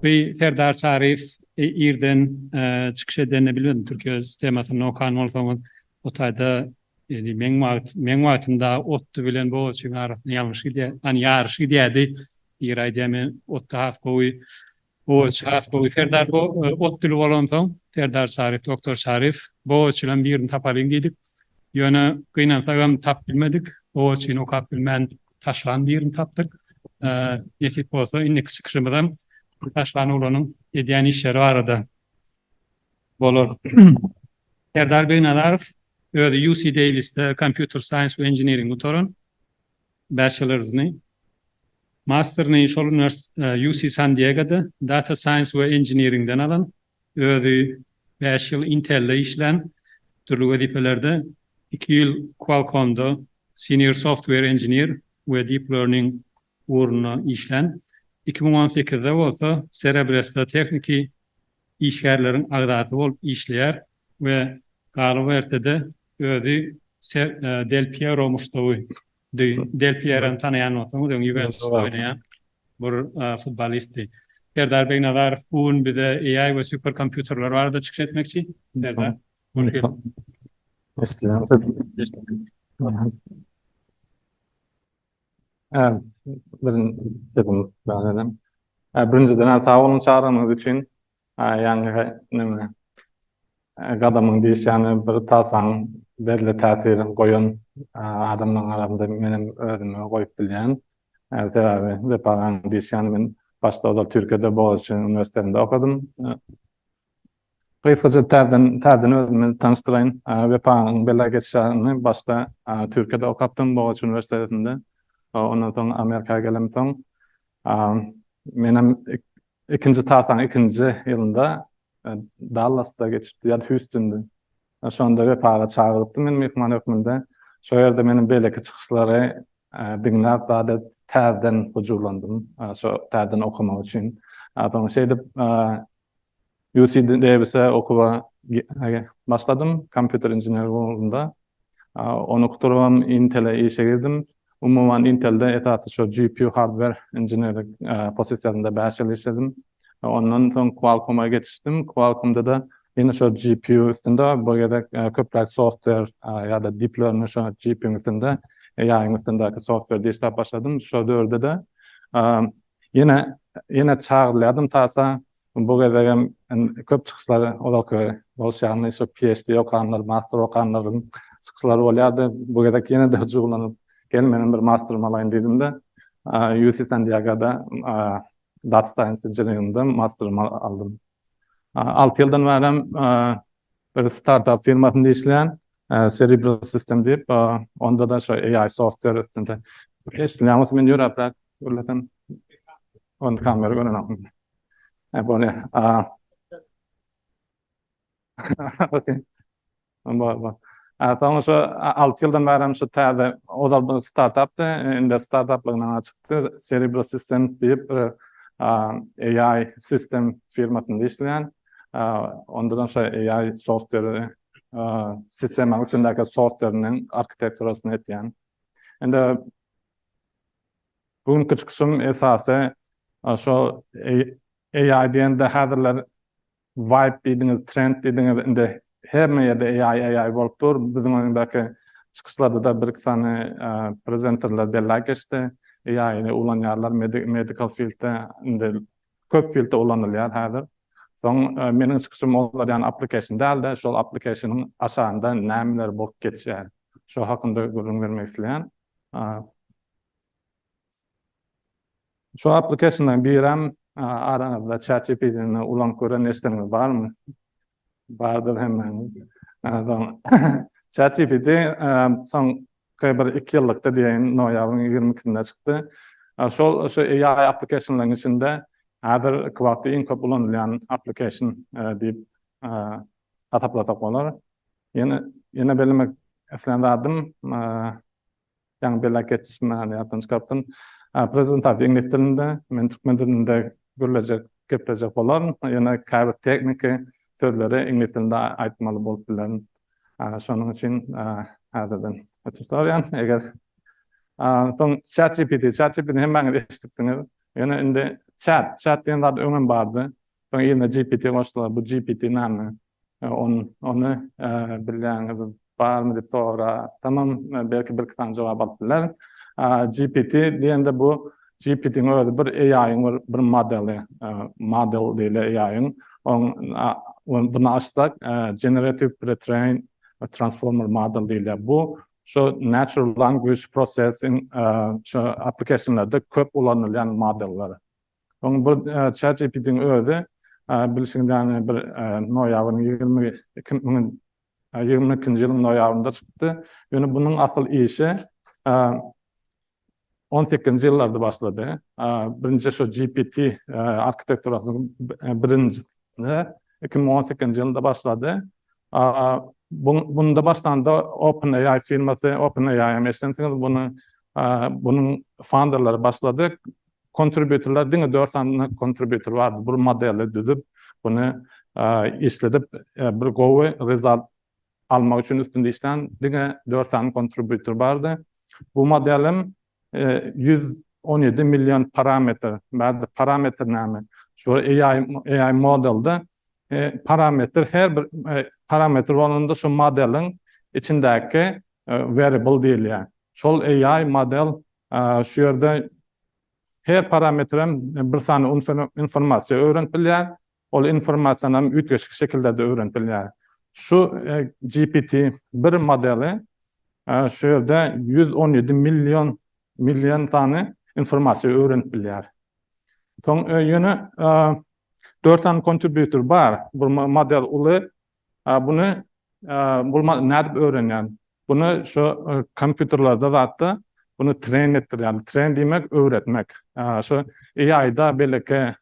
Bi Serdar Çaryýew irden çykyş edenini bilmedim Türkiýe temasyny okan bolsaňyz o taýda ýeri meň wagt meň wagtymda otdy bilen bogazçyň arasynda ýalňyş gidýär an ýaryş gidýärdi ýeri aýdýan men otda has gowy Bogaççy has gowy serdar bu ot dili bolansoň serdar şaryf doktor şaryf bogaççydan birini tapalyň diýdik ýöne gynansagam tap bilmedik bogaççyny okap bilmän taşlan birini tapdyk nesip bolsa indiki çykyşymyzam bu taşlan oglanyň edýän işleri barada bolar serdar begnazarow özi uc davisde kompýuter saýns we inženering gutaran Bachelorsny, Masterny şol uniwersitet UC San Diegoda Data Science we Engineeringden alan, özi bäş ýyl Intel-de işlän, dürli wezipelerde, iki ýyl Qualcomm-da Senior Software Engineer we Deep Learning ugrunda işlän, iki müň on sekizde bolsa Cerebress-da tehniki işgärleriň agzasy bolup işleýär, we galyberse-de özi Ser Del Piero muşdagy di. Del Pierony tanaýan bolsaňyz öň Ýuwentusda oýnaýan bir futbolistdi. Serdar Begnazarow bu gün bize AI we super kompýuterler barada çykyş etmekçi. Serdar, hoş geldiň. Birinjiden sag boluň çagyranyňyz üçin. Ýaňky neme? Gadamyň diýiş ýany bir tasaň belli täsir goýan adamlaryň arasynda menem özümi goýup bilýän. Sebäbi Wepaň diýiş ýany men başda ozal Türkiýede Bogaziçi uniwersitetinde okadym. Gysgaça täzeden täzeden özümi tanyşdyraýyn. Wepaň belä geçiş ýany başda Türkiýede okapdym Bogaziçi uniwersitetinde. Ondan soň Amerika gelemsoň menem Ikinji tasaň ikinji ýylynda Dallasda geçipdi ýa-da Hýustunda. Şonda Wepaga çagyrypdy meni myhman hökmünde. Şo ýerde meniň beýleki çykyşlary diňläp zada täzeden huzurlandym. Şo täzeden okamak üçin. Soň şeýdip UC Davis-e okuwa başladym, kompýuter inženerligi ugrunda. Ony gutarybam Intel-e işe girdim. Umuman Intel-de esasy şu GPU hardware inženerlik posisiýasynda bäş ýyl işledim. Ondan soň Qualcomm-a geçişdim. Qualcomm-da-da ýene şu GPU üstünde, bu gezek köpräk software ýa-da deep learning şu GPU-nyň üstünde, AI-nyň üstündäki software-de işläp başladym. Şol döwürde-de ýene ýene çagyrylýardym tasa Bu gezegem köp çykyşlar ozalky boluş ýaly şu PHD okanlar, master okanlaryň çykyşlary bolýardy. Bu gezek ýene-de hyjuwlanyp, gel menem bir masterym alaýyn diýdim-de, UC San Diego-da Data Science Engineering-de masterymy aldym. Alty ýyldan bärem bir startup firmasynda işleýän, Cerebral System diýip, onda-da şu AI software üstünde. Eşidilýär bolsa men ýöräpräk gürlesem. Ony kamera görenokmy? Hep ol ya. Aa. Okey. Bar bar. Aa, soň şu 6 ýyldan bäri hem şu täze ozal bir startapdy. Indi startaplygyndan çykdy. Cerebro System diýip bir aa, AI sistem firmasynda işleýän. Aa, onda da şo AI software aa, sistemaň üstündäki softweriniň arkitekturasyny etýän. Indi Bu günki çykyşym esasy şo AI diýende häzirler vibe diýdiňiz, trend diýdiňiz, indi hemme ýerde AI, AI bolup dur. Biziň öňdäki çykyşlarda-da bir-iki sany prezenterler belläp geçdi. AI-ny ulanýarlar medical field-de, indi köp fieldde ulanylýar häzir. Soň meniň çykyşym olar ýaly application däl-de, şol application-yň aşagynda nämeler bolup geçýär, şo hakynda gürrüň bermek isleýän. Şu applicationlaryň birem araňyzda ChatGPT-ni ulanyp gören neşdeňiz barmy? Bardyr hemmäňiziň. ChatGPT soňky bir iki ýyllykda diýeýin, noýabryň ýigrimi ikisinde çykdy. Şol şu AI applicationlaryň içinde häzirki wagtda iň köp ulanylýan application diýip hasaplasak bolar. Ýene bellemek islän zadym, Ýaňy bela geçdim men hany ýatdan çykartdym. Prezentasyýa iňlis dilinde, men türkmen dilinde gürlejek, geplejek bolaryn. Ýöne käbir tehniki sözleri iňlis dilinde aýtmaly bolup bilerin. Şonuň üçin häzirden ötünç sorýan. Eger soň ChatGPT, ChatGPT-ni hemmäňiz eşidipsiňiz. Ýöne indi chat, chat diýen zat öňem bardy. Soň ýerine GPT goşdular. Bu GPT näme? Ony bilýäňiz barmy diýip sorasam, belki birki sany jogap alyp bilerin. GPT diýende bu GPT-niň özi bir AI-yň bir modeli, model diýilýär AI-yň. Onuň bunu açsak, Generative Pretrain Transformer Model diýilýär. Bu şu Natural Language Processing şu applikasionlarda köp ulanylýan modeller. Oň bir ChatGPT-niň özi bilşiňiz ýaly bir noýabryň ýigrimi iki müň ýigrimi ikinji ýylyň noýabrynda çykdy. Ýöne bunuň asyl işi on sekizinji ýyllarda başlady. Birinji şu GPT arkitekturasynyň birinjisi iki müň on sekizinji ýylynda başlady. Bunda başlanda OpenAI firmasy, OpenAI hem eşidensiňiz, bunuň founderleri başlady. Kontributorlar diňe dört sany kontributor bardy. Bir modeli düzüp, buny işledip, bir gowy result almak üçin üstünde işlän diňe dört sany kontributor bardy. Bu modelim ýüz on ýedi million parametr bardy. Parametr näme? Şu AI, AI modelde parametr her bir parametr bolanda şu modeliň içindäki variable diýilýär. Şol AI model Şu ýerde her parametrem bir sany informasiýa öwrenip bilýär. Ol informasiýany hem üýtgeşik şekillerde öwrenip bilýär. Şu GPT bir modeli şu ýerde ýüz on ýedi million million sany informasiýa öwrenip bilýär. Soň ýöne dört sany kontributor bar. Bu model uly A buny bolmaz nädip öwrenýän. Buny şo kompýuterlerde zatda buny tren etdirýän. Tren diýmek öwretmek. Şo AI-da beleke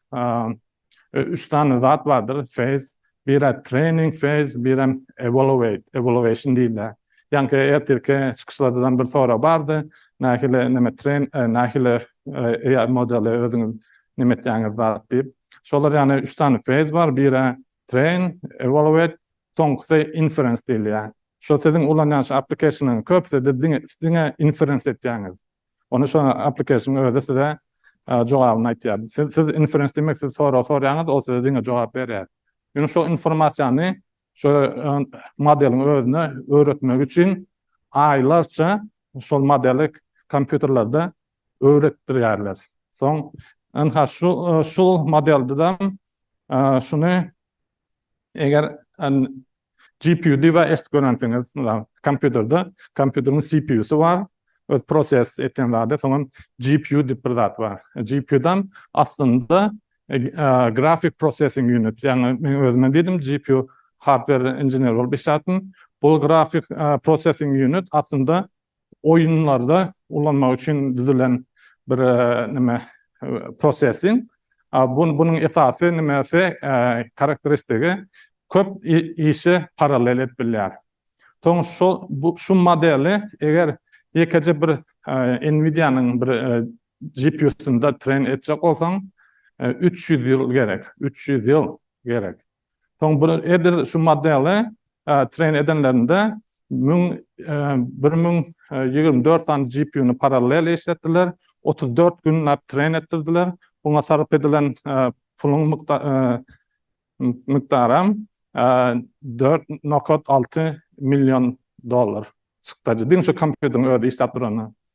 üç sany zat bardyr phase. Biri training phase, birem evaluate, evaluation diýilýär. Ýaňky ertirki çykyşlardadan bir sorag bardy. Nähili näme tren nähili AI modeli özüňiz näme etýäňiz zat diýip. Şolar ýaly üç sany phase bar. Biri Train, evaluate, soňkusy inference diýilýär. Şu siziň ulanýan şu application-yň köpüsi siz diňe diňe inference etýäňiz. Ony şo application-yň özi size jogabyny aýtýar. Siz siz inference diýmek siz sorag sorýaňyz, ol size diňe jogap berýär. Ýöne şo informasiýany şo modeliň özüne öwretmek üçin aýlarça şol modeli kompýuterlerde öwretdirýärler. Soň ynha şu şu modeldedem şuny eger GPU diýip eşidip görensiňiz, kompýuterde kompýuteriň CPU-sy bar, öz proses etýän zady, soňam GPU diýip bir zat bar. GPU-dan aslynda grafik processing unit, ýagny men özümem diýdim GPU hardware inžener bolup işläpdim. Bu grafik processing unit aslynda oýunlarda ulanmak üçin düzülen bir näme prosesiň bunuň esasy nämesi karakteristigi köp işe parallel edip bilýär. Soň şo bu şu modeli eger ýekeje bir Nvidia-nyň bir GPU-synda tren etjek bolsaň, üç ýüz ýyl gerek, üç ýüz ýyl gerek. Soň bir edil şu modeli train edenlerinde 1000 1024 sany GPU-ny parallel işletdiler, 34 günläp train etdirdiler. Buňa sarp edilen puluň mukdaram 4,6 million dollar çykdajy. Diňe şu kompýuteriň özi işläp duranda.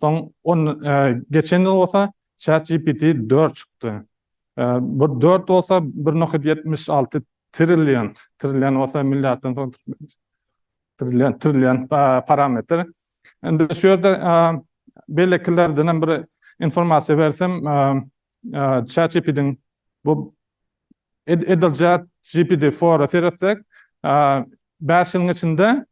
Soň on geçen ýyl bolsa ChatGPT dört çykdy. Bu dört bolsa bir nokat ýetmiş alty trillion, trillion bolsa milliarddan soň trillion, trillion parametr. Indi şu ýerde beýlekilerdenem bir informasiýa bersem, ChatGPT-iň bu edil ChatGPT-4-a seretsek, bäş ýylyň içinde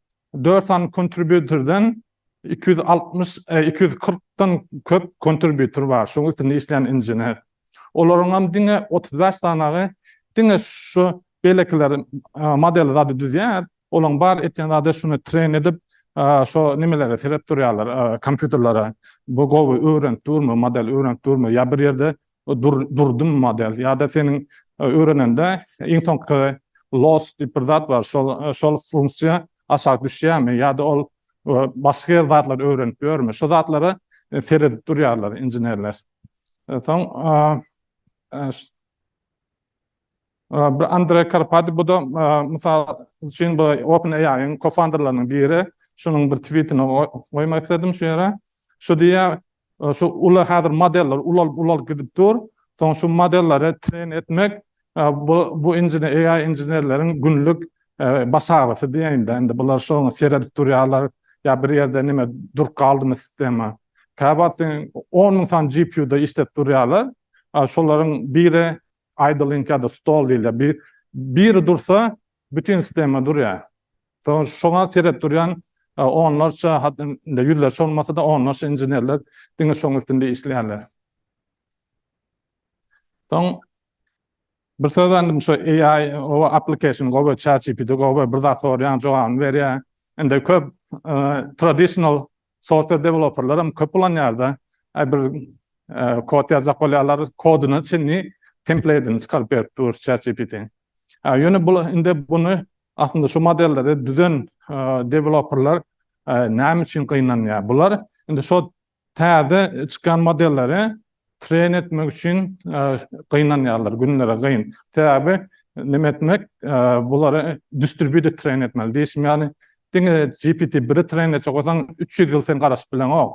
dört sany kontributordan iki ýüz altmyş, iki ýüz kyrkdan köp kontributor bar, şonuň üstünde işleýän inžener. Olaryň hem diňe otuz bäş sanagy diňe şu beýlekiler modeli zady düzýär, Olaň bar etýän zady şuny tren edip şo nimelere serep durýarlar kompýuterlere bu gowy öwrenip durmy model öwrenip durmy ýa bir ýerde durdymy model ýada seniň öwrenende iň soňky loss diýip bir zat bar şol şol funksiýa aşak düşýämi ýada ol başga ýerde zatlar öwrenip ýörmi şo zatlara seredip durýarlar inženerler soň Bir Andre Karpati, bu-da mysal üçin bu Open AI-yň kofounderleriniň biri, şunuň bir twitini goýmak isledim şu ýere. Şu diýýär, şu uly häzir modeller ulalyp-ulalyp gidip dur, soň şu modelleri tren etmek, bu AI inženerleriň günlük baş agyrysy diýeýin-de, indi bular şoňa seredip durýarlar, ýa bir ýerde näme durup galdymy sistema. Käwagtsyň on müň sany GPU-da işläp durýarlar, şolaryň biri Idling ýa-da stall diýilýär. Bir biri dursa, bütin sistema durýar. Soň şoňa seredip durýan onlarça, hatda ýüzlerçe bolmasa-da, onlarça inženerler diňe şoň üstünde işleýärler. Soň bir söz aýdym şu AI oba application gowy, ChatGPT gowy, bir zat sorýaň jogabyny berýär. Indi köp traditional software developerler hem köp ulanýarda, bir kod ýazjak bolýarlar, kodyna çenli templateini çykaryp berip dur ChatGPT. Ýöne bu indi bunu aslynda şu modelleri düzen developerler näme üçin gynanýar? Bular indi şo täze çykýan modelleri Tren etmek üçin gynanýarlar, günleri gyn. Sebäbi neme etmek, bulary distribýuter tren etmeli. Diýşim ýaly, diňe GPT biri tren etjek bolsaň, üç ýüz ýyl sen garaşyp bileňok.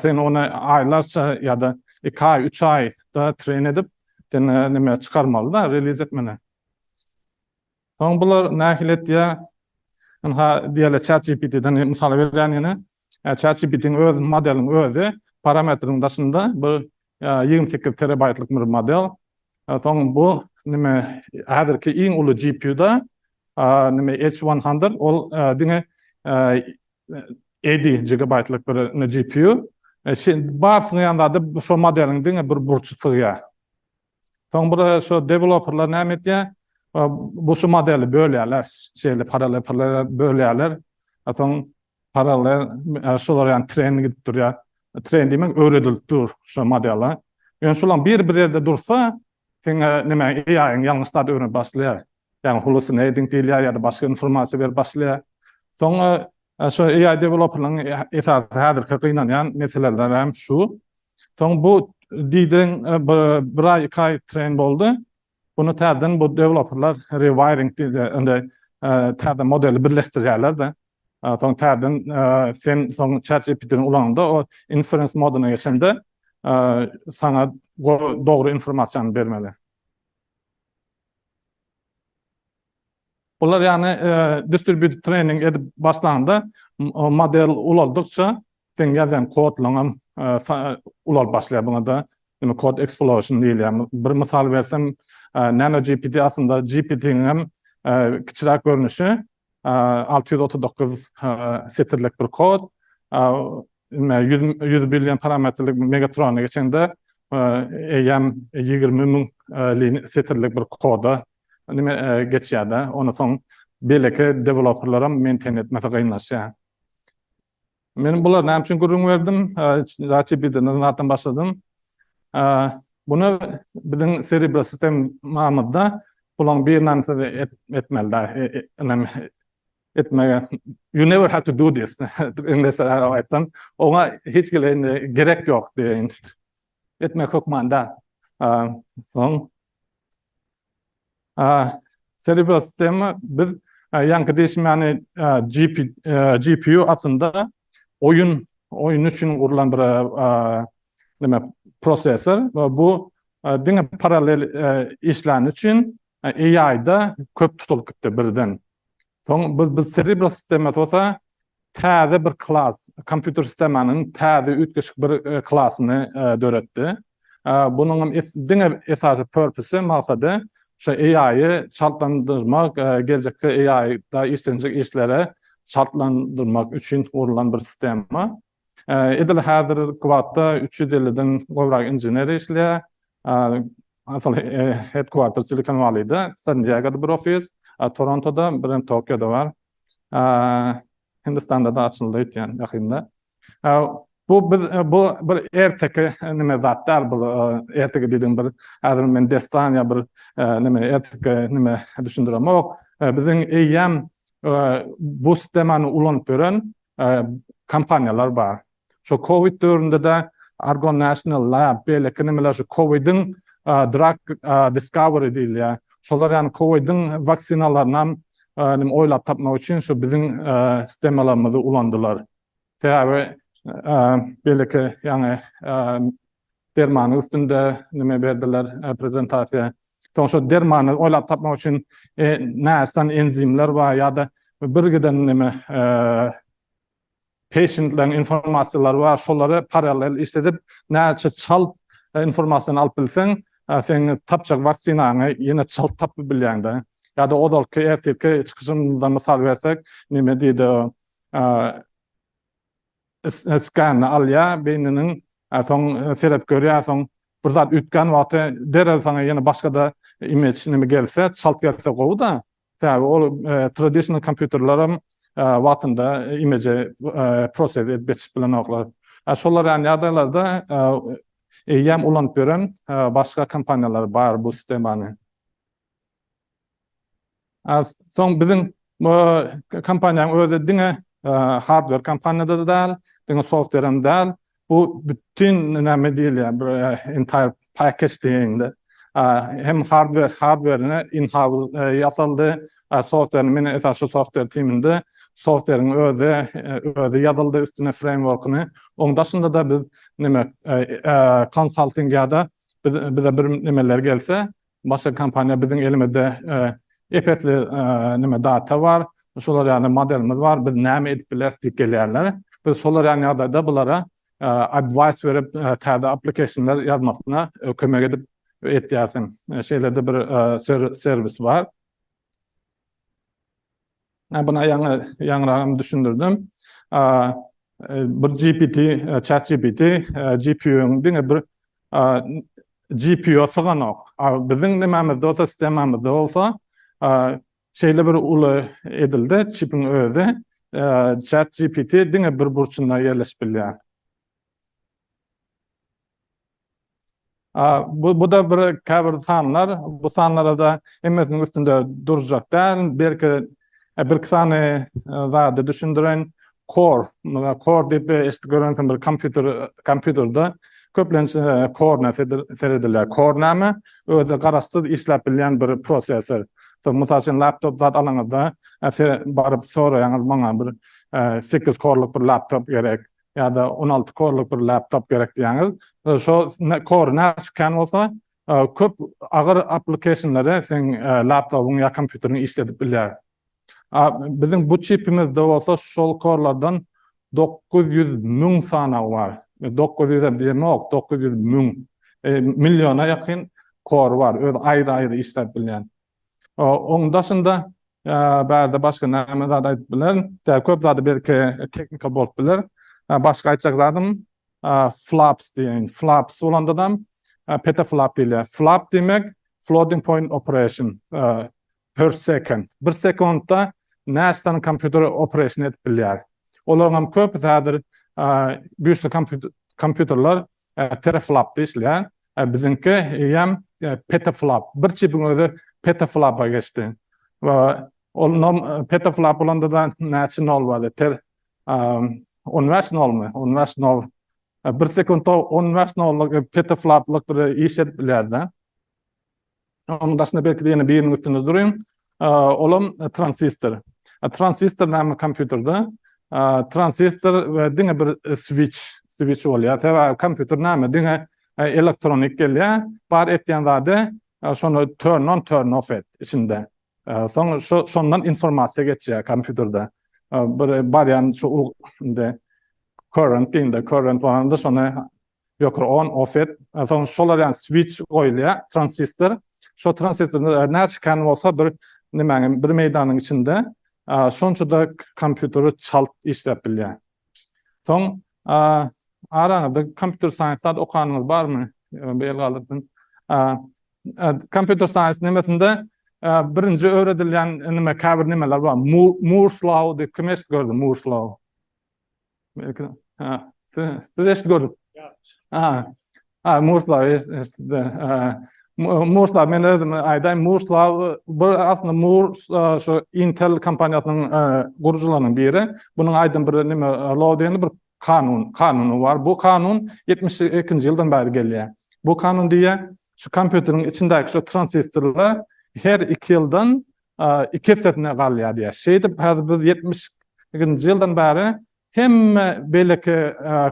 Sen ony aýlarça ýa-da iki aý, üç aýda tren edip, sen neme çykarmaly-da, reliz etmeli. Soň bular nähili etýär? Ynha diýeli ChatGPT-den mysal berýän ýene. ChatGPT-niň öz modeliň özi parametriň daşynda bir ýigrimi sekiz terabaýtlyk bir model. Soň bu nime häzirki iň uly GPU-da nime H100 ol diňe ýedi gigabaýtlyk bir GPU. Barsyna ýa-da şo modeliň diňe bir burçy sygýar. Soň bir şu developerlar näme etýär? Bu şu modeli bölýärler. Şeýle parallelepirlere bölýärler. Soň parallel şular ýaly tren gidip durýar. Tren diýmek öwredilip dur şu modele. Ýöne şular bir-bir ýerde dursa, seň näme AI-ň ýalňyş zat öwrenip başlaýar. Ýagny hulusyny ediň diýilýär ýa-da başga informasiýa berip başlaýar. Soňra şo AI deweloperlaryň esasy häzirki gynanýan meseleleri hem şu. Soň bu diýdiň bir aý iki aý treýn boldy. Bunu täzeden bu deweloperlar rewiring diýilýär. Indi täze modeli birleşdirýärler-de. Soň täzeden sen soň ChatGPT-ni ulanyňda o inference moduna geçende saňa dogry informasiýany bermeli. Olar ýagny distribýuted trening edip başlanda model ulaldykça seň ýazýan kodlaň hem ulalyp başlaýar buňada indi kod eksplosýon diýilýär bir mysal bersem nanogpt aslynda gpt niň hem kiçiräk görnüşi alty ýüz otuz dokuz setirlik bir kod, ýüz billion parametrlik Megatrona geçeňde, eýýäm ýigrimi müň setirlik bir koda geçýär-de, ony soň beýleki dewelopperlaram meinten etmesi kynlaşýar. Men bular näme üçin gürrüň berdim? ChatGPT-den zatdan başladym. Bunu biziň serebro sistemamyzda bulaň birine siz etmeli da. Inem etmege you never have to do this. Inglesçe aýtsam, oňa hiç gerek ýok diýen. etmek hökmanda. Soň Cerebral sistema biz ýaňky diýişim ýany GPU aslynda oýun oýun üçin gurlan bir neme prosessor we bu diňe parallel işlän üçin AI-da köp tutulyp gitdi birden. Soň biz biz Cerebro sistemasy bolsa täze bir klas, kompýuter sistemanyň täze üýtgeşik bir klasyny döretdi. Bunuň hem diňe esasy purpose, maksady şu AI-y çaltlandyrmak, geljekde AI-da işlenjek işlere çaltlandyrmak üçin gurlan bir sistema. Edil häzirki wagtda üç ýüz elliden gowrak inžener işleýär. Asal headquarter Silikon Walleýde, San Diegoda bir ofis, Torontoda, bir hem Tokioda bar. Hindistanda-da açyldy öýtýän ýakynda. Bu biz bu bir erteki neme zat däl bu erteki diýdigiň bir häzir men dessan ýa bir neme erteki neme düşündiremok. Biziň eýýäm bu sistemany ulanyp ýören kompaniýalar bar. Şu covid döwründe-de Argon National Lab, beýleki nimeler şu covid-iň drug discovery diýilýär. Şolar ýagny covid-iň waksinalaryny hem nime oýlap tapmak üçin şu biziň sistemalarymyzy ulandylar. Sebäbi beýleki ýagny Dermanyň üstünde nime berdiler prezentasiýa. Soň şo dermany oýlap tapmak üçin näsany enzimler bar ýa-da birgiden nime peşentleriň informasiýalary bar şolary parallel işledip näçe çalt informasiýany alyp bilseň seň tapjak waksinaňy ýene çalt tapyp bilýäňdä. Ýa-da ozalky ertirki çykyşymyzdan mysal bersek nime diýdi o Skanny alýa beýniniň soň seredip görýä soň bir zat üýtgän wagty derrew saňa ýene başgada image neme gelse çalt gelse gowyda sebäbi ol traditional kompýuterleram wagtynda image process edip geçip bilenoklar şolar ýaly ýagdaýlarda eýýäm ulanyp ýören başga kompaniýalar bar bu sistemany. Soň biziň kompaniýanyň özi diňe hardwer kompaniýada-da däl, diňe softwerem däl, bu bütin näme diýilýär, bir entire package diýeýin-de. Hem hardwer, hardwerini in-house ýasaldy, softwerini men esasy şu softwer timinde softweriň özi, özi ýazyldy üstüne freýmworkyny. Oň daşynda-da biz neme konsalting ýa-da bize bir nemeler gelse, Başga kompaniýa biziň elimizde epesli neme data bar, şolar ýaly modelimiz bar, biz näme edip bileris diýip gelýärler. Biz şolar ýaly ýagdaýda bulara advice berip täze applicationlar ýazmasyna kömek edip etýärsiň. Şeýle-de bir serwis bar. Ä buna ýaňy ýaňyragam düşündirdim. Bir GPT, chat GPT, GPU-nyň diňe bir GPU-a syganok. Biziň nimämizde bolsa, sistemamyzda bolsa şeýle bir uly edildi, çipiň özi chat GPT diňe bir burçunda ýerleşip bilýär. Bu-da bir käbir sanlar, bu sanlara-da hemmesiniň üstünde durjak däl, belki birki sany zady düşündireýin. Core, muny core diýip eşidip görensiň bir kompýuter, kompýuterde köplenç korna seredilýär. Core näme? Özi garaşsyz işläp bilýän bir prosessor. Mysal üçin laptop zat alaňyzda, baryp soraýaňyz maňa bir sekiz korluk bir laptop gerek, ýa-da on alty korluk bir laptop gerek diýýäňiz. E, şo kor näçe kän bolsa, e, köp agyr applikationlary seň e, laptobyň ýa kompýuteriň işledip bilýär. Biziň bu çipimizde bolsa şol korlardan 900 müň sana bar. 900 hem diýemok, 900 müň milliona ýakyn kor bar. Öz aýry-aýry işläp bilýän. Oň daşynda bärde başga näme zat aýdyp bilerin. Däl köp zady belki teknika bolup biler. Başga aýtjak zadym flaps diýen. Flaps bolandadam petaflap diýilýär. Flap diýmek floating point operation per second. Bir sekuntda näçe sany kompýuter operation edip bilýär. Olaryňam köp häzir güýçli kompýuterler Teraflop diýilýär. Biziňki eýýäm petaflop. Bir çipiň özi petaflopa geçdi. We ol nom petaflop bolanda-da näçe nol bardy? Ter on bäş nolmy? On bäş nol. Bir sekuntda on bäş nollyk petafloplyk bir iş edip bilýär-de. Onuň daşynda belki-de ýene biriniň üstünde durun. Olam transistor. Transistor näme kompýuterde? Transistor we diňe bir switch, switch bolýar. Sebäbi kompýuter näme? Diňe elektronik gelýär. Bar etýän zady şony turn on, turn off et içinde. Soň şondan informasiýa geçýär kompýuterde. Bir barýan şu indi current diýinde, current baranda şony Ýokary on, ofet, soň şolar ýaly switch goýulýar, transistor. Şo transistor näçe kän bolsa bir nimäniň, bir meýdanyň içinde şonça-da kompýuteri çalt işläp bilýär. Soň araňyzda kompýuter saýens zat okanyňyz barmy? Bir el galdyrsyn. Kompýuter saýens nemesinde birinji öwredilýän nime, käbir nimeler bar. Moore's law diýip kim eşidip gördi, Moore's law? Siz eşit gördük. Aha. Ha, Murslav, Murslav, men özüm aýdaýyn, Murslav, bir aslında Mur, şu Intel kompaniýasynyň gurucularyndan biri. Bunuň aýdan bir nime, law diýen bir kanun, kanuny bar. Bu kanun 72-nji ýyldan bäri gelýär. Bu kanun diýýär, şu kompýuteriň içindäki şu transistorlar her iki ýyldan iki essesine galýar diýýär. Şeýdip, häzir biz ýetmiş ikinji ýyldan bäri hemme beýleki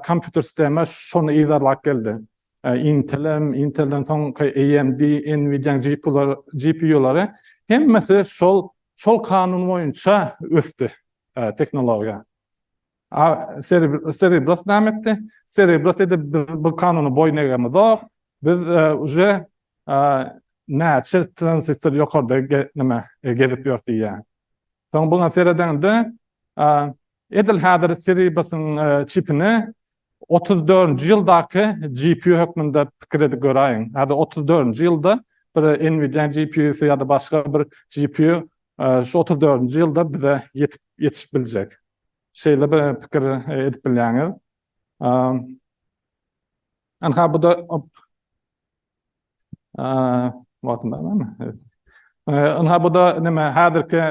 kompýuter sistema şony yzarlap geldi. Intel-em, Intel-den soňky AMD, Nvidia-nyň GPU-lary, GPU-lary hemmesi şol şol kanun boýunça ösdi tehnologiýa. A Serebros näme etdi? Serebros dedi, biz bu kanuna boýun egemizok. Biz uje näçe transistor ýokarda nime gezip ýör diýýär. Soň buňa seredende edil häzir Serebrosyň çipini 34-nji ýyldaky GPU hökmünde pikir edip göräýiň. Häzir 34-nji ýylda bir Nvidia GPU-sy ýa-da başga bir GPU şu 34-nji ýylda bize ýetip ýetişip biljek. Şeýle bir pikir edip bilýäňiz. Ynha bu-da wagtym barmy? Ynha bu-da näme häzirki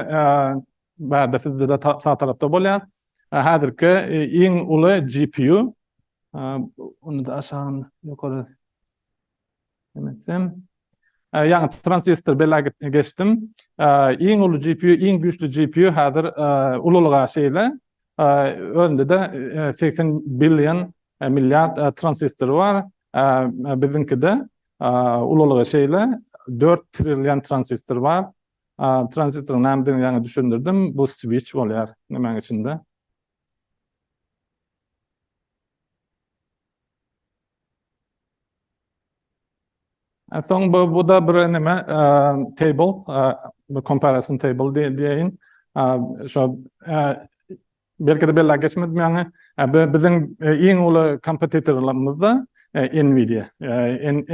bärde sizde-de sag tarapda bolýar. Häzirki iň uly GPU. Ony-da aşagyny ýokary. Demesem, ýaňy transistor bela geçdim. Iň uly GPU, iň güýçli GPU häzir ululyga şeýle. Özünde-de 80 billion, milliard transistory bar. Biziňkide ululygy şeýle, 4 trillion transistor bar. Transistoryň nämedigini ýaňy düşündirdim. Bu switch bolýar, nämäň içinde. Soň bu bu-da bir neme, table, bir comparison table diýeýin. Şo belki-de belläp geçmedim ýaňy, biziň iň uly kompetitorlarymyz-da Nvidia.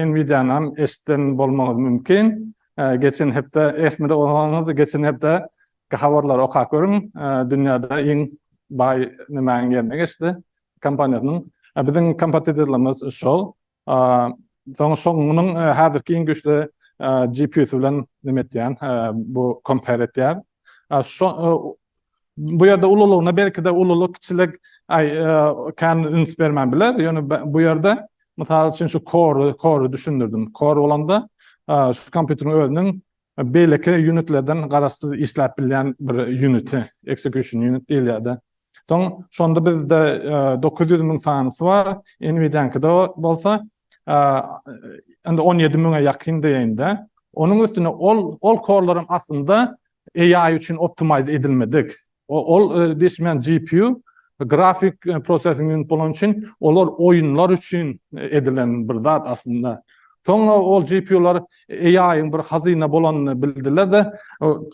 Nvidia-nam eşiden bolmagyňyz mümkin. Geçen hepde eşitmedi bolsaňyz, geçen hepde Habarlary okap görüň, dünýäde iň baý nimäniň ýerine geçdi kompaniýasynyň. Biziň kompatitorlarymyz şol. Soň şoň munuň häzirki iň güýçli GPU-sy bilen neme etýän, bu compare etýän. Şo bu ýerde ululygyna belki-de ululyk kiçilik aý kän üns bermän biler, ýöne bu ýerde mysal üçin şu core-y düşündirdim. Core bolanda şu kompýuteriň özüniň Beýleki ýunitlerden garaşsyz işläp bilýän bir ýuniti, execution unit diýilýär-de. Soň şonda bizde dokuz ýüz müň sanysy bar, Nvidia-nyňkyda bolsa indi on ýedi müňe ýakyn diýeýin-de. Onuň üstüne ol korlaram aslynda AI üçin optimize edilmedik. Ol diýişmän GPU, grafik processing unit bolany üçin, olar oýunlar üçin edilen bir zat aslynda. Soňra ol GPU-lar AI-yň bir hazyna bolanyny bildiler-de,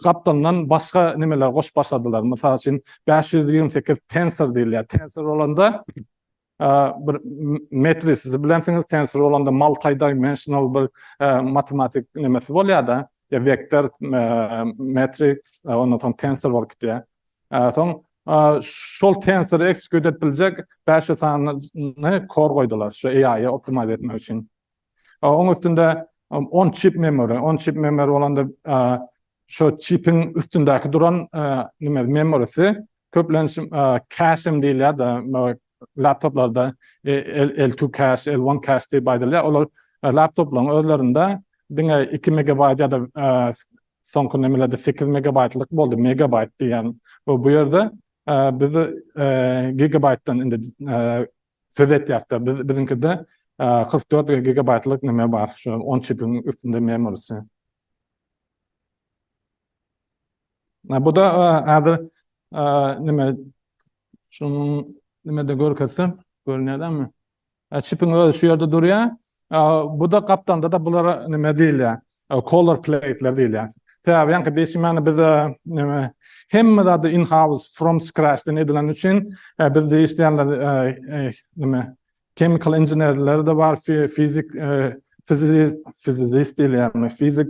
gapdalyndan başga nemeler goşup başladylar. Mysal üçin, bäş ýüz ýigrimi sekiz tensor diýilýär. Tensor bolanda, bir metris siz bilensiňiz tensor bolanda multidimensional bir matematik nemesi bolýada ya vektor matrix ondan soň tensor bolup gitýä soň şol tensor execute edip biljek 500 sanyny kor goýdular şu AI-y optimize etmek üçin Oň üstünde on çip memory, on çip memory bolanda şo çipiň üstündäki duran nime memorysy köplenç käşim diýilýär de laptoplarda L2 käş, L1 käş diýip aýdylýar. Olar laptoplaryň özlerinde diňe 2 megabaýt ýa-da soňky nimelerde 8 megabaýtlyk boldy, megabaýt diýýän. Bu ýerde biz gigabaýtdan indi Söz etýärdi. Biz biziňkide 44 gigabaýtlyk näme bar, şu on çipiň üstünde memorisi. Bu da häzir näme şunuň näme-de görkezsem, görünýärmi? Çipiň özi şu ýerde durýar. Bu da gapdalda-da bulara näme diýilýär? Color plate'ler diýilýär. Sebäbi ýaňky dişimeni biz neme hemme zady in house from scratch den edilen üçin biz diýişýänler neme chemical engineerler de bar fizik fizist diýilýärmi fizik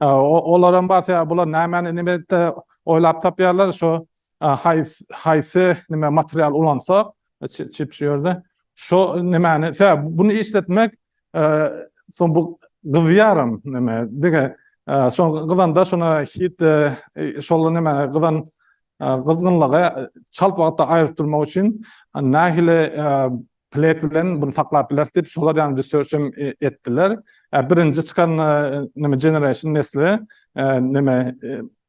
olaram bar sebäbi bular nämäni nime oýlap tapýarlar şu haýsy nime material ulansak Çip şu ýerde. Şo nämäni? Tä bunu işletmek soň bu gyzýaram näme? Dige soň gyzanda şona hit şol näme gyzan gyzgynlygy çalt wagtda aýryp durmak üçin nähili plek bilen bunu saklap bileris diýip şolar ýaly research hem etdiler. Birinji çykan näme generation nesli näme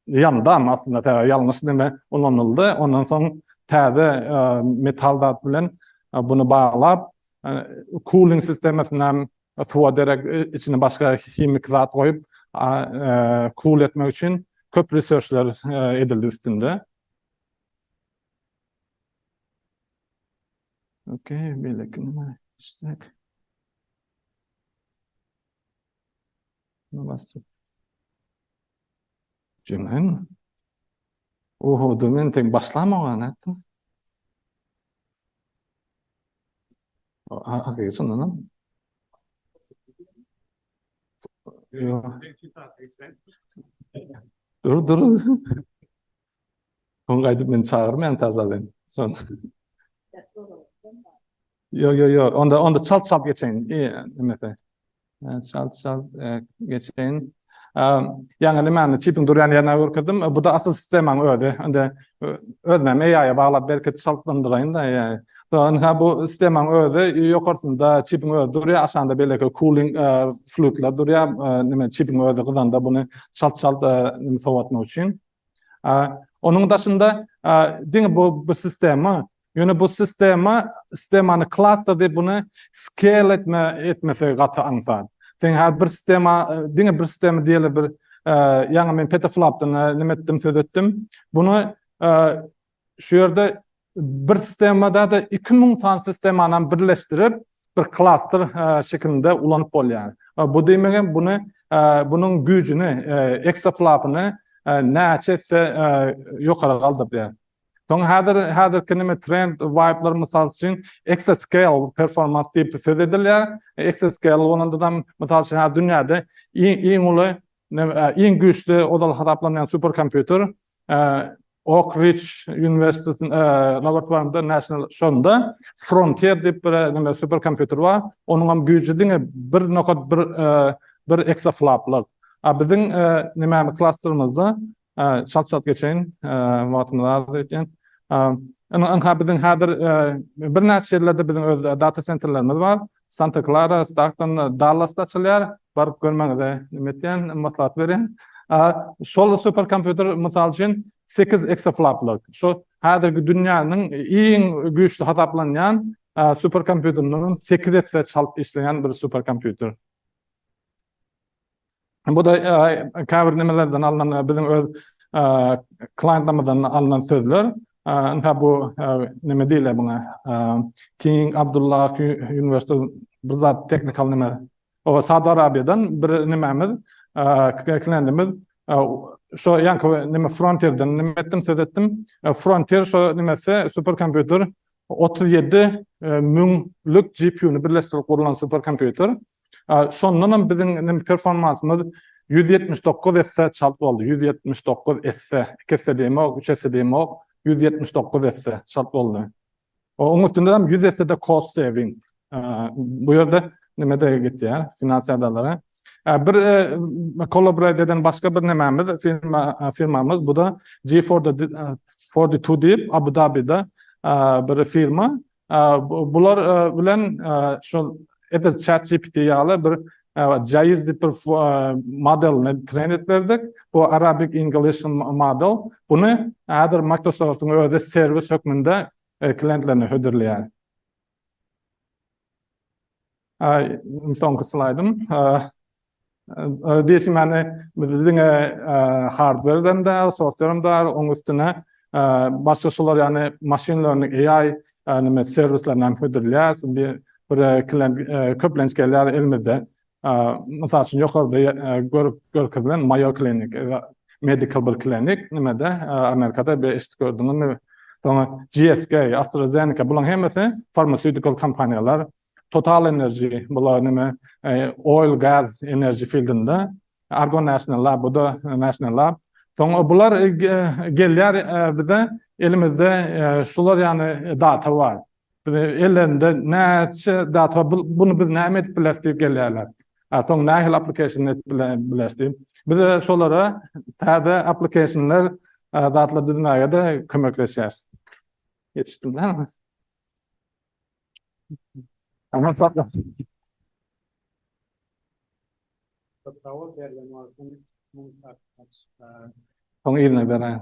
Ýandam aslynda tä ýalňyş deme ulanyldy. Ondan soň täze metal zat bilen buny baglap, kuling sistemasyny hem suwa derek içine başga himiki zat goýup kul etmek üçin köp researchler edildi üstünde. Okey, beýlekine geçsek. Muny basdyk. Jümleň. Oho, da men teň başlamaga nätdim. Ha, hakyky şundanam. Dur, dur. Soň gaýdyp meni çagyrmaýan tazadan. Son. Ýok, ýok, ýok. Onda, onda çalt çalt geçeýin. E, nimesi? E, çalt çalt e, geçeýin. E, Ýaňy nimäni çipiň durýan ýerine görkezdim. E, Bu da asyl sistemaň özi. Onda e, özüm hem AI-a baglap belki çaltlandyraýyn da. e. Soň ha bu sistemaň özi ýokarsynda çipiň özi durýar, aşagynda beýleki cooling e, fluidler durýar. E, Nime çipiň özi gyzanda buny çalt çalt e, nime sowatmak üçin. E, Onuň daşynda e, diňe bu bu sistema Ýöne bu sistema, sistemany klasda diýip buny scale etme etmesegi gaty aňsat. Sen häzir bir sistema, diňe bir sistema diýeli bir ýaňy men petaflopdan näme etdim söz etdim. Bunu şu ýerde bir sistemada da 2000 san sistemany birleşdirip bir klaster şekilinde ulanyp bolýar. Bu diýmegem bunu bunun güýjüni, eksaflopyny näçe ýokary galdyrýar. Soň häzir häzirki näme trend vibe'lar mysal üçin exascale performans diýip söz edilýär. Exascale bolanda mysal üçin häzir dünýäde iň uly iň güýçli ozal hasaplanýan superkompýuter Oak Ridge University laboratoriýasynda National şonda Frontier diýip bir näme superkompýuter bar. Onuň hem güýji diňe 1.1 bir eksafloplyk. A biziň näme klasterymyzda Çalt çalt geçeýin, wagtymyz azdy öýtýän. Ynha biziň häzir birnäçe ýerlerde biziň öz data sentrlerimiz bar. Santa Klara, Stagton, Dallasda açylýar. Baryp görmäňizi neme etýän, maslahat berýän. Şol super kompýuter mysal üçin sekiz eksaflaplyk, şu häzirki dünýäniň iň güýçli hasaplanýan super kompýuterlerinden sekiz esse çalt işleýän bir super kompýuter. Bu-da käbir nimelerden alnan, biziň öz klientlermizden alnan sözler. Ynha, bu nime diýilýär muňa, King Abdullah Universal bir zat teknikal nime. Oba, Saud Arabiýadan bir nimämiz, klientimiz şo ýaňky nime Frontierden nime etdim, söz etdim. Frontier şo nimesi, superkompýuter Otuz ýedi müňlük GPU-ny birleşdirip gurlan superkompýuter. Şondan hem biziň indi performansymyz ýüz ýetmiş dokuz esse çalt boldy. Ýüz ýetmiş dokuz esse. Iki esse diýemok, üç esse diýemok. Ýüz ýetmiş dokuz esse çalt boldy. Onuň üstünde hem ýüz esse-de cost saving. Bu ýerde neme-de gitýär, finansiýa adalara. Bir kollaborasiýa eden başga bir nemämiz, firmamyz, bu-da G42 diýip, Abu-Dabide bir firma. Bular bilen şol edil ChatGPT ýaly bir Jaiz diýip bir modelini treýn edip berdik. Bu Arabic English model. Buny häzir Microsoft-yň özi serwis hökmünde klientlerine hödürleýär. Soňky slaýdym. Diýşim ýaly, bizde diňe hardwerden däl, softwerem bar, onuň üstüne başga şular ýaly machine learning, AI nime serwislerini hem hödürleýäris. Indi bir klient köplenç gelýär, elimizde Mysal üçin ýokarda görkezilen Mayo Clinic, Medical bir klinik, nimede, Amerikada bir eşidip gördüňizmi? Soňra GSK, AstraZeneca, bularyň hemmesi farmasewtikal kompaniýalar, Total Energy, bular nime, oil, gaz, enerji fildinde, Argo National Lab, bu-da National Lab. Soňra bular gelýär bize, elimizde şular ýaly data bar. Bize ellerinde näçe zat bar, buny biz näme edip bileris diýip gelýärler. Soň nähili application edip bileris diýip. Biz-de şolara täze applicationlar, zatlar düzmäge-de kömekleşýäris. Ýetişdim dälmi? Aman sakla. Sawol berlen wagtyň muň hakykat. Soň yzyna beräýen.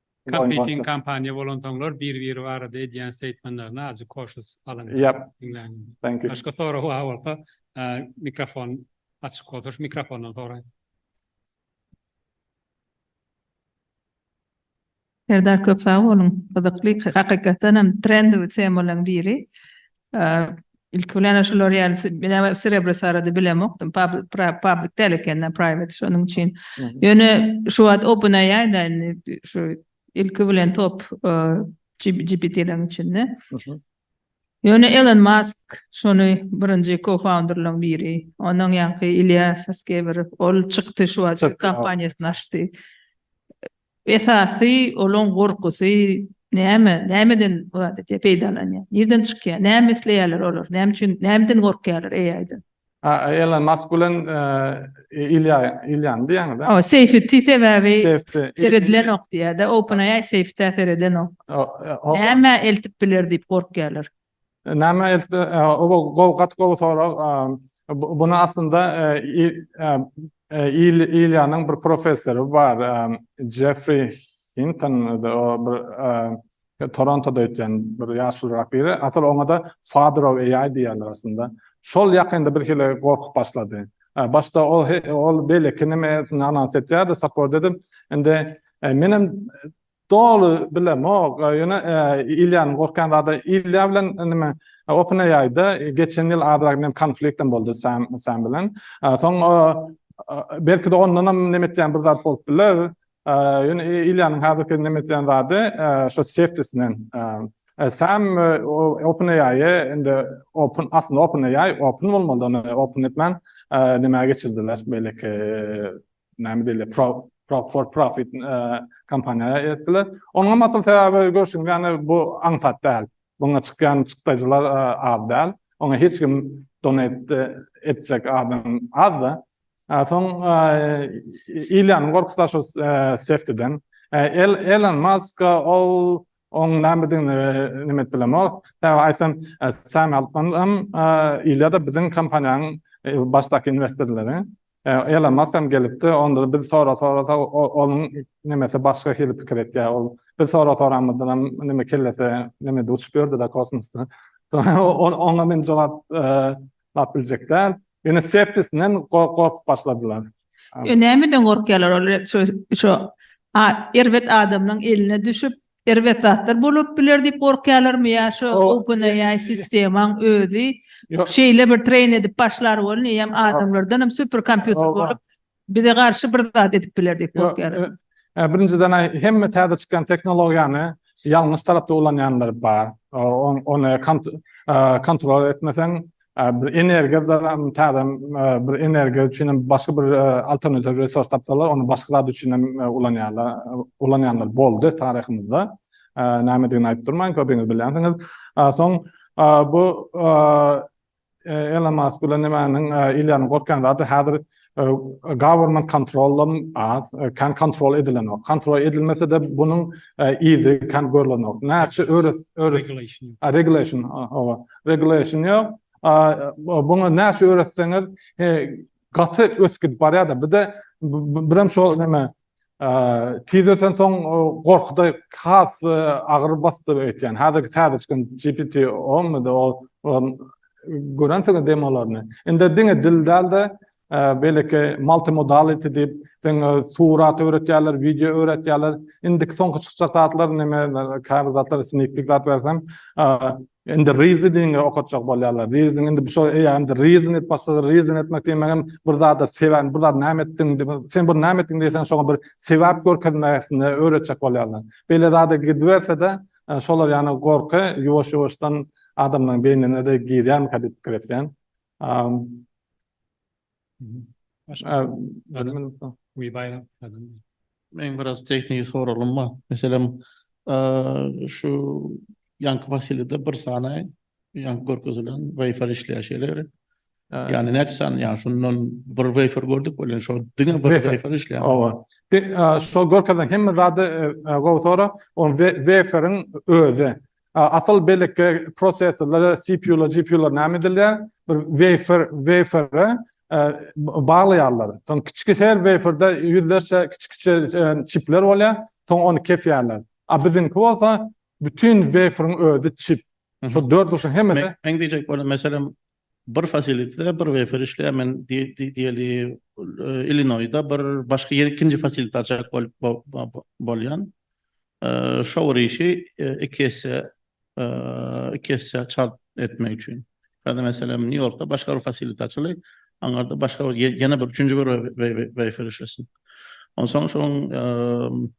Competing kompaniýa bolansoňlar bir-biri barada edýän steýtmenlerini azjyk koşus alyň. Ýap. Diňläň. Thank you. Başga sorag bar bolsa, mikrofon açyk bolsa şu mikrofondan soraýyň. Serdar köp sag boluň. Gyzykly, hakykatdan hem trendowy temalaryň biri. Ilki bilen-ä şular ýaly, men ä Srebres barada bilemokdym, public däl eken-dä, private, şonuň üçin. Ýöne şu wagt OpenAI-da indi şu ilki bilen top GPT-leriň içinde. Ýöne Elon Musk şony birinji co-founderlaryň biri, ondan ýaňky Ilýa Saskewerow, ol çykdy şu wagt kompaniýasyny açdy. Esasy olaň gorkusy näme, nämeden bu zat etýär, peýdalanýar, nirden çykýar, näme isleýärler olar, näme üçin, nämeden gorkýarlar AI-dan? Elon Mask bilen Ilýany diýýäňizä? Hawa, safety sebäbi seredilenok diýýär-de, OpenAI safety-ä seredenok. Näme eltip biler diýip gorkýarlar. Näme eltdi? Bu gowy, gaty gowy sorag. Bunu aslynda Iliýanyň bir professory bar, Jeffrey Hinton, o bir Torontoda öýtýän bir ýaşulyrak biri. Asyl oňa-da Father of AI diýýärler aslynda. Şol ýakynda birhili gorkup başlady. Başda ol beýleki neme anons etýärdi, support edip, indi menem Doly bilemok ýöne Ilýanyň gorkýan zady Ilýa bilen neme OpenAI-da geçen ýyl azrak neme konfliktem boldy Sam Sam bilen. Soň belki-de ondanam neme etýän bir zat bolup biler. Ýöne Ilýanyň häzirki neme edýän zady şo safety-sinden. Sam OpenAI-e indi open aslynda OpenAI open bolmalydy ony open etmän neme geçirdiler beýleki näme diýilýär, pro for profit kompaniýa etdiler. Onuňam asyl sebäbi görşüňiz ýaly bu aňsat däl. Buňa çykýan çykdajylar az däl. Oňa hiç kim donate etjek adam az-da. Soň Ilýanyň gorkusy da şu Seftiden. Elon Musk ol oň nämedigini neme edip bilemok. Sebäbi aýtsam Sam Altman hem Ilýa-da biziň kompaniýanyň başdaky investorlary. Elon Musk hem gelipdi. Onda-da biz sora-sorasa onuň nemesi başga hili pikir etýär. Ol biz sora-soramyzdan hem neme kellesi nemede uçup ýördi-de kosmosda. Oňa men jogap lap biljek däl. Ýöne seftisinen gorkup başladylar. Näme üçin gorkýarlar olar? Şo erbet adamlaryň eline düşüp Erbet zatlar bolup biler diýip gorkýalarmy ýa şu O- OpenAI sistemaň özi Ýok. şeýle bir treýn edip başlar welin eýýäm adamlardan hem super kompýuter Ol- bolup bize garşy bir zat edip biler diýip Ýok, gorkýarlar. e, Birinjiden aý, hemme täze çykan tehnologiýany ýalňyş tarapda ulanýanlar bar. O- on- Ony kont- e, kontrol etmeseň, Bir energiýa zam täzem bir energiýa üçin hem başga bir alternatiw resurs tapsalar ony başga zat üçin hem ulanýarlar. Ulanýanlar boldy taryhymyzda. Nämedigini aýdyp durman köpüňiz bilýänsiňiz. Soň bu Elon Musk bilen nämäniň ilýanyň gorkýan zady häzir Government kontroldan az, kän kontrol edilenok. Kontrol edilmese-de bunuň yzy kän görlenok. Näçe öres, öres. Regulation. Hawa, regulation ýok. Buňa näçe öretseňiz gaty ösgidip barýar-da. Bir-de birem şol näme, Tiz ösensoň gorkuda has agyr basdy öýtýän. Häzirki täze çykan GPT onmydy ol görensiňiz demolaryny. Indi diňe dil dälde beýleki multimodality diýip seň surat öwretýärler, wideo öwretýärler. Indiki soňky çykjak zatlar neme käbir zatlar snikpik zat berseň Indi Rizi dine okatjak bolýarlar. Riziň indi şo eýýäm indi Rizin diýip başladylar. Rizin etmek diýmegem bir zada sebäp, bir zat näme etdiň, sen bir näme etdiň diýseň şoňa bir sebäp görkezmesini öwretjek bolýarlar. Beýle zada gidiberse-de, şolar ýaly gorky ýuwaş-ýuwaşdan adamlaryň beýnine-de girýärmikä diýip pikir etýän. Meň biraz tehniki soragym bar. Meselem, şu ýanky Wasilýada bir sany ýanky görkezilen waýfar işleýär şeýle gerek. Ýagny näçe sany, ýagny şundan bir waýfar gördük welin şo diňe bir waýfar işleýär. Oba. Şol görkezilen hemme zady gowy sorag. Ol waýfaryň özi. Asyl beýleki prosesorlara CPU-lar, GPU-lar näme edilýär? Bir weýfer, wafere, baglaýarlar. Soň kiçi her waferde ýüzlerçe kiçi-kiçi çipler bolýar, soň ony kesýärler. A biziňki bolsa bütin waferiň özi çip. Şo dört burçuň hemmesi. Meň diýjek bolan meselem Bir fasilitde bir wefer işleýär. Men diýeli Illinoýsda bir başga ýer ikinji fasiliti açjak bolup bolýan. Şower işi iki esse iki esse çalt etmek üçin. Ýa-da meselem Nýu Ýorkda başga bir fasiliti açyly. Aňarda başga bir ýene bir üçünji bir wefer işlesin. Onsoň şoň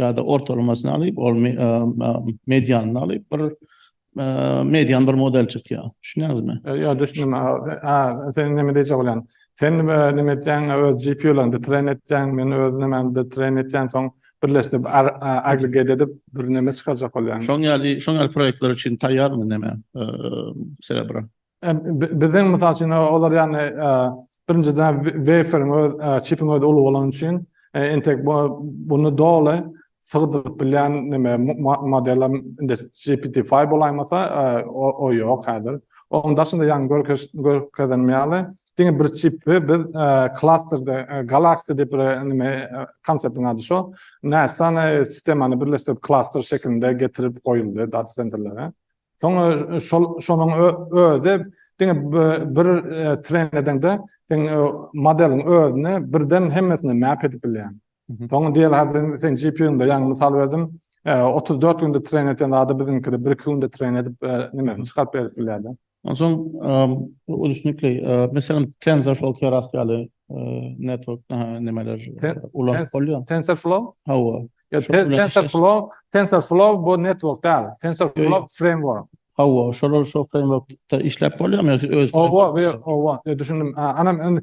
Ýa-da ortalamasyny alyp, ol medianyny alyp, bir median bir model çykýar. Düşünýäňizmi? Ýok, düşündim. A, sen näme diýjek bolýaň? Sen näme etýäň, öz GPU-laryňda train etýäň, men öz nämämde train etýän, soň birleşdirip, aggregate edip, bir näme çykarjak bolýaň. Şoň ýaly, şoň ýaly proýektler üçin taýýarmy näme, Cerebro? Biziň mysal üçin olar ýagny birinjiden weferiň öz çipiň özi uly bolany üçin entek bunu doly sygdyryp bilýän neme model indi GPT-5 bolaýmasa o ýok häzir. Onuň daşynda ýagny görkezenim ýaly diňe bir çipi biz klasterde Galaxy diýip bir neme konseptiň ady şo näçe sany sistemany birleşdirip klaster şekilinde getirip goýuldy data senterlere. Soň şol şonuň özi diňe bir tren edeňde sen modeliň özüni birden hemmesini map edip bilýän. Soň diýeli hadi sen GPU-nda ýaňy mysal berdim. 34 günde tren eten zady biziňkide 1-2 günde tren edip nimesini çykaryp berip bilýärdi. Onsoň ulyşnikli meselem TensorFlow Keras ýaly network nimeler ulanmak bolýar. TensorFlow? Hawa. TensorFlow, TensorFlow bu network däl. TensorFlow framework. Hawa, şolar şu frameworkda işläp bolýarmy? Hawa, hawa, düşündim. Anam,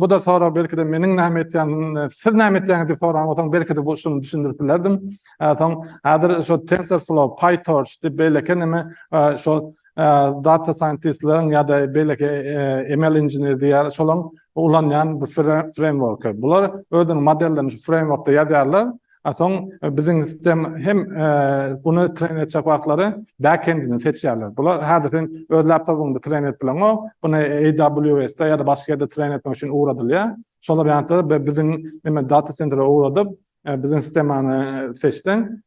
bu-da sorag belki-de meniň näme etýändigim, siz näme etýäňiz diýip soran bolsaň, belki-de bu usulyny düşündirip bilerdim. Soň häzir şu TensorFlow, PyTorch diýip beýleki näme, şol data scientist-leriň ýa-da beýleki ML inžener diýýär, şolaryň ulanýan bir framework. Bular özüniň modellerini şu frameworkda ýazýarlar, a soň biziň sistem hem buny treýn etjek wagtlary back-end-ini seçýärler. Bular häzir sen öz laptopyňda treýn edip bileňok, buny AWS-de ýa-da başga ýerde treýn etmek üçin ugradylýar. Şolar ýaly-da biziň data sentre ugradyp, biziň sistemany seçseň,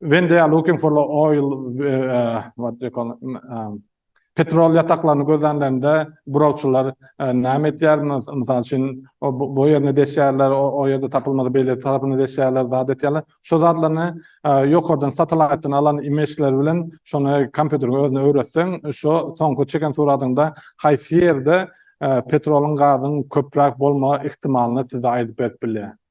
when they are looking for the oil uh, what do you call it? Um, petrol ýataklaryny gözlänlerinde burawçylar e, näme etýär? Mysal üçin, bu ýerine deşýärler, o ýerde tapylmady beýle tarapyny deşýärler, zat etýärler. Şu zatlaryny e, ýokardan satelitden alan imageler bilen şony kompýuteriň özüne öwretseň, şu soňky çeken suratyňda haýsy ýerde e, petroluň, gazyň köpräk bolma ihtimalyny size aýdyp berip bilýär.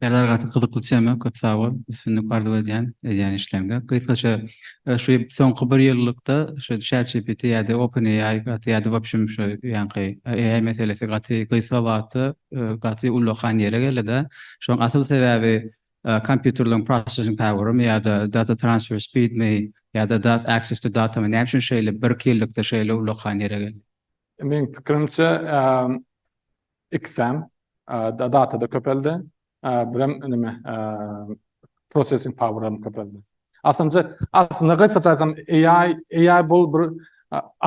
Serdar gaty gyzykly tema köp sag bol üstünlik arzuw edýän edýän işleňde. Gysgaça şu soňky bir ýyllykda şu ChatGPT ýa-da OpenAI gaty ýa-da wobşem şu ýaňky AI meselesi gaty gysga wagtda gaty ullakan ýere geldida. Şoň asyl sebäbi kompýuterleriň processing powermy ýa-da data transfer speedmi ýa-da dat access to datamy näme üçin şeýle bir iki ýyllykda şeýle ullakan ýere geldi? Meň pikirimçe Ikisem datada köpeldi. Birem neme processing power-am köpeldi. Aslynca, aslynda gysgaça aýtsam, AI, AI bul bir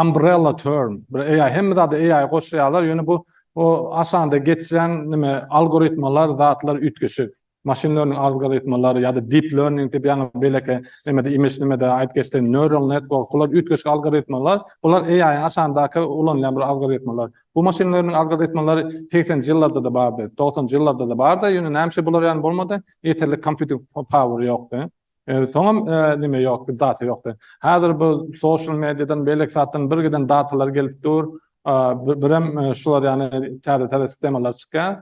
umbrella term. Bir AI, hemme zada AI goşýarlar, ýöne bu o aşanda geçýän neme algoritmalar, zatlar üýtgeşik. Maşyn learning algoritmleri ýa-da deep learning diýip ýaňy beýleki nemede image nimede aýdyp geçdim neural network bular üýtgeşik algoritmalar bular AI-yň aşagyndaky ulanylýan bir algoritmalar bu maşyn learning algoritmalary segsenji ýyllarda-da bardy dogsanjy ýyllarda-da bardy ýöne näme üçin bular ýaly bolmady ýeterlik kompýuting power ýokdy soňam neme ýokdy data ýokdy häzir bu social mediadan beýleki zatdan bir giden datalar gelip dur birem şular ýaly täze täze sistemalar çykýar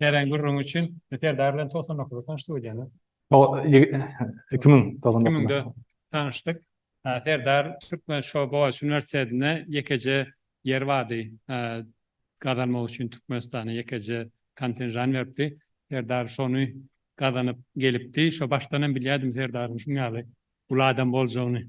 Nären gürrüňi üçin Serdar bilen togsan dokuzda tanyşdyk öýdýäňiz? Iki müň togsan dokuzda. Iki müňde tanyşdyk. Serdar türkmen şo Bogaç uniwersitetinde ýekeje ýer bardy. Gazanmak üçin Türkmenistana ýekeje kontenjan beripdi. Serdar şony gazanyp gelipdi. Şo başdan hem bilýärdim Serdaryň şuň ýaly uly adam boljagyny.